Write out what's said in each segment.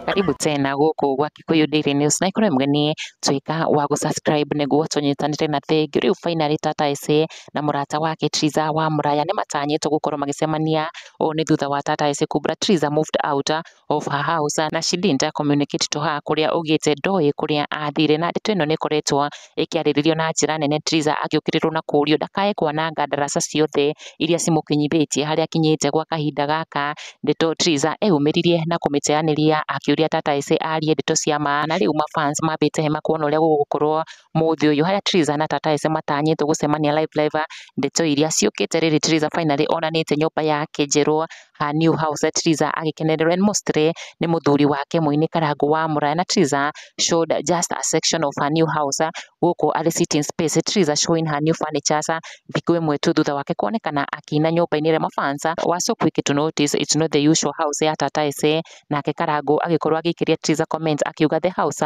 Karibu tena gũkũ gwa Kikuyu Daily News na ikorwo mgeni tuĩka wa gũ subscribe nĩguo tũnyitanĩre na thengi rĩu finally Tata Ese na mũrata wake Triza wa Muraya nĩ matanyĩtwo gũkorwo magĩcemania ũũ nĩ thutha wa Tata Ese kumbura Triza moved out of her house and she didn't communicate to her kũrĩa augĩte ndoĩ kũrĩa athire na ndeto ĩno nĩ ĩkoretwo ĩkĩarĩrĩrio na njĩra nene Theresa agĩũkĩrĩrwo na kũũrio ndakae kwananga ndaraca ciothe iria cimũkinyithĩtie harĩa akinyĩte gwa kahinda gaka ndeto Theresa eyumĩririe na kũmĩteanĩria akĩũria tata ĩse arie ndeto cia ma na rĩu mafans mambĩte hema kuona ũrĩa gũgũkorwo mũthĩ ũyũ harĩa Theresa na tata ĩse matanyĩtwo gũcemania live live ndeto iria ciũkĩte rĩrĩ Theresa finally onanĩte nyũmba yake njerũ a New House Triza agĩkenererwo and mostly nĩ mũthuri wake mũini Karangũ wa Mũraya na Triza showed just a section of her new house gũkũ arĩ sitting space Triza showing her new furnitures thikũ ĩmwe tu thutha wake kuonekana akĩina nyũmba-inĩ ĩrĩa mafansa were so quick to notice it's not the usual house ya Tata Ese nake Karangũ agĩkorwo agĩikĩria Triza comment akiuga the house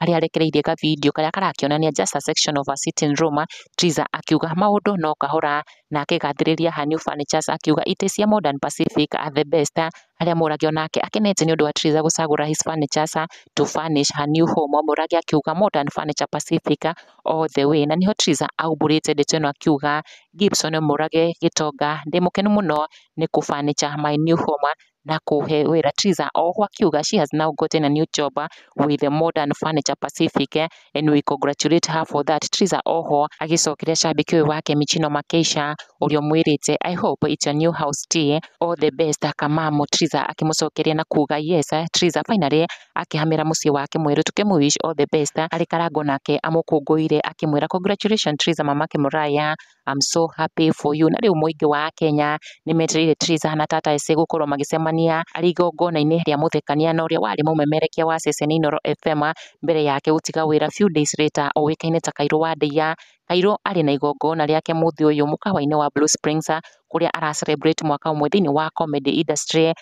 harĩa arekereirie ka video karĩa karakĩonania just a section of a sitting room, Triza akiuga maũndũ no kahora na akĩgathĩrĩria her new furnitures akiuga it is a modern Pacific at the best, harĩa Mũragi onake akenete nĩ ũndũ wa Triza gũcagũra his furnitures to furnish her new home, Mũragi akiuga modern furniture Pacific all the way, na niho Triza aumbũrĩte ndeto ĩno akiuga Gibson Mũrage Gĩtonga ndĩ mũkenu mũno nĩ kũ furniture my new home, na kũũhe wĩra. Triza o ũguo akiuga, she has now gotten a new job with the Modern Furniture Pacific and we congratulate her for that. Triza o ho agĩcokeria shabiki ũyũ wake Michino Makeisha ũrĩa ũmwĩrĩte, I hope it's your new house tea, all the best Kamamu. Triza akĩmũcokeria na kuuga, yes Triza, finally akĩhamĩra mũciĩ wake mwerũ, tũkĩmũ wish all the best. Arĩ karango nake amũkũngũĩire akĩmwĩra, congratulations Triza mamake Mũraya, I'm so happy for you. Na rĩu mũingĩ wa Kenya nĩ metereire Theresa na Tata Ese gũkorwo magĩcemania arĩ igongona-inĩ rĩa mũthekania na ũrĩa warĩ mũmemerekia wa ceceni Inooro FM mbere yake gũtiga wĩra few days later ũĩkaine ta Kairũ wa Ndeiya. Kairũ arĩ na igongona rĩake mũthĩ ũyũ mũkawa-inĩ wa Blue Springs kũrĩa ara celebrate mwaka ũmwe thĩinĩ wa comedy industry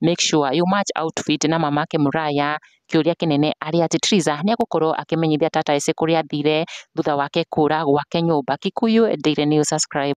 make sure you match outfit na mamake Muraya. Kĩũria kĩnene arĩ atĩ Triza nĩ egũkorwo akĩmenyithia Tata Icĩ kũrĩa athire thutha wake kũũra gwake nyũmba. Kikuyu Daily News Subscribe.